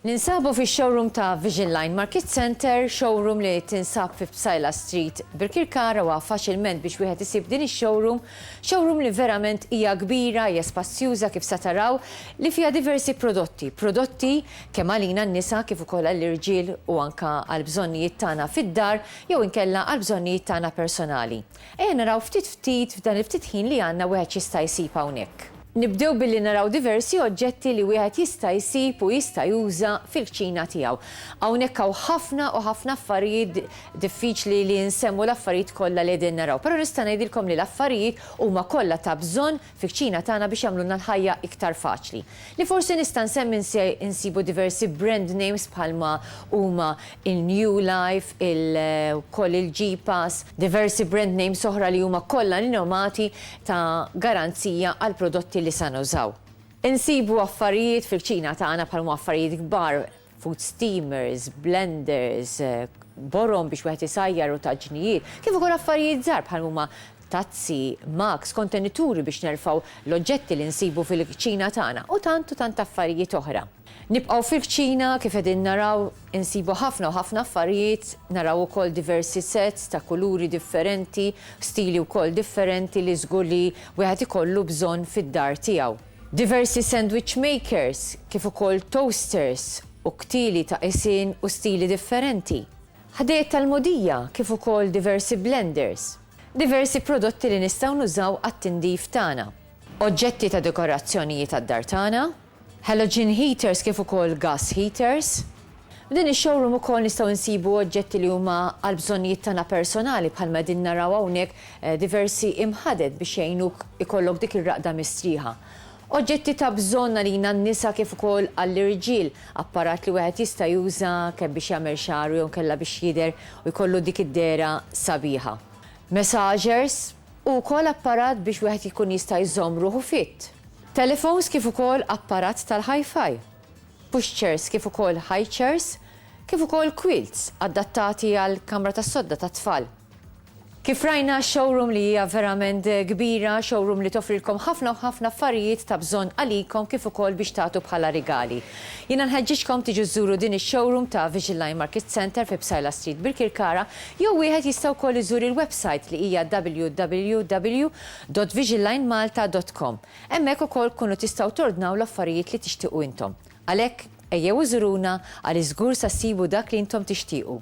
Ninsabu fi showroom ta' Vision Line Market Center, showroom li tinsab fi Psajla Street, Birkirkara wa faċilment biex wieħed isib din ix-showroom, showroom li verament hija kbira, hija spazjuża kif sa taraw, li fiha diversi prodotti, prodotti kemm għalina n-nisa kif ukoll għall-irġiel u anke għall-bżonnijiet tagħna fid-dar jew inkella għall-bżonnijiet tagħna personali. Ejja naraw ftit ftit f'dan il-ftit ħin li għandna wieħed x'jista' jsib hawnhekk. Nibdew billi naraw diversi oġġetti li wieħed jista' jsib u jista' juża fil-kċina tiegħu. Hawnhekk hawn ħafna u ħafna affarijiet, diffiċli li nsemmu l-affarijiet kollha li qegħdin naraw, però nista' ngħidilkom li l-affarijiet huma kollha ta' bżonn fil-kċina tagħna biex jagħmlulna l-ħajja iktar faċli. Li forsi nista' nsemmi nsibu diversi brand names bħalma huma il-New Life, il wkoll il-G-Pass, diversi brand names oħra li huma kollha rinomati ta' garanzija għall-prodotti li sa nużaw. Insibu affarijiet fil-kċina tagħna bħalma affarijiet kbar food steamers, blenders, borom biex wieħed isajjar u taġnijiet, kif ukoll affarijiet żgħar bħal huma tazzi, mugs, kontenituri biex nerfgħu l-oġġetti li nsibu fil-kċina tagħna u tant u tant affarijiet oħra. Nibqgħu fil-kċina, kif qegħdin naraw insibu ħafna u ħafna affarijiet, naraw ukoll diversi sets ta' kuluri differenti, stili wkoll differenti li żgur li wieħed ikollu bżonn fid-dar tiegħu. Diversi sandwich makers kif ukoll toasters u ktieli ta' qisien u stili differenti. Ħdejjed tal-mogħdija kif ukoll diversi blenders. Diversi prodotti li nistgħu nużaw għat-tindif tagħna. Oġġetti ta' dekorazzjonijiet għad-dar tagħna. Halogen heaters kif ukoll gas heaters. F'din ix-showroom ukoll nistgħu nsibu oġġetti li huma għal bżonnijiet tagħna personali bħalma qegħdin naraw hawnhekk diversi imħaded biex jgħinuk ikollok dik ir-raqda mistrieħa. Oġġetti ta' bżonn għalina n-nisa kif ukoll għall-irġiel, apparat li wieħed jista' juża kemm biex jagħmel xagħru jew inkella biex jidher u jkollu dik id-dehra sabiħa. Massagers, u wkoll apparat biex wieħed jkun jista' jżomm ruħu fit. Telephones kif ukoll apparat tal-hi-fi. pushchairs kif ukoll highchairs, kif ukoll quilts adattati għal kamra tas-sodda tat-tfal. Kif rajna, showroom li hija verament kbira, showroom li toffrilkom ħafna u ħafna affarijiet ta' bżonn għalikom kif ukoll biex tagħtu bħala rigali. Jiena nħeġġiġkom tiġu żżuru din ix-showroom ta' Vigiline Market Centre fi Psaila Street Birkirkara jew wieħed jista' wkoll iżur il-website li hija www.vigiline malta.com. Hemmhekk ukoll tkunu tistgħu tordnaw l-affarijiet li tixtiequ intom. Għalhekk, ejjew u żuruna għaliex żgur sa ssibu dak li intom tixtiequ.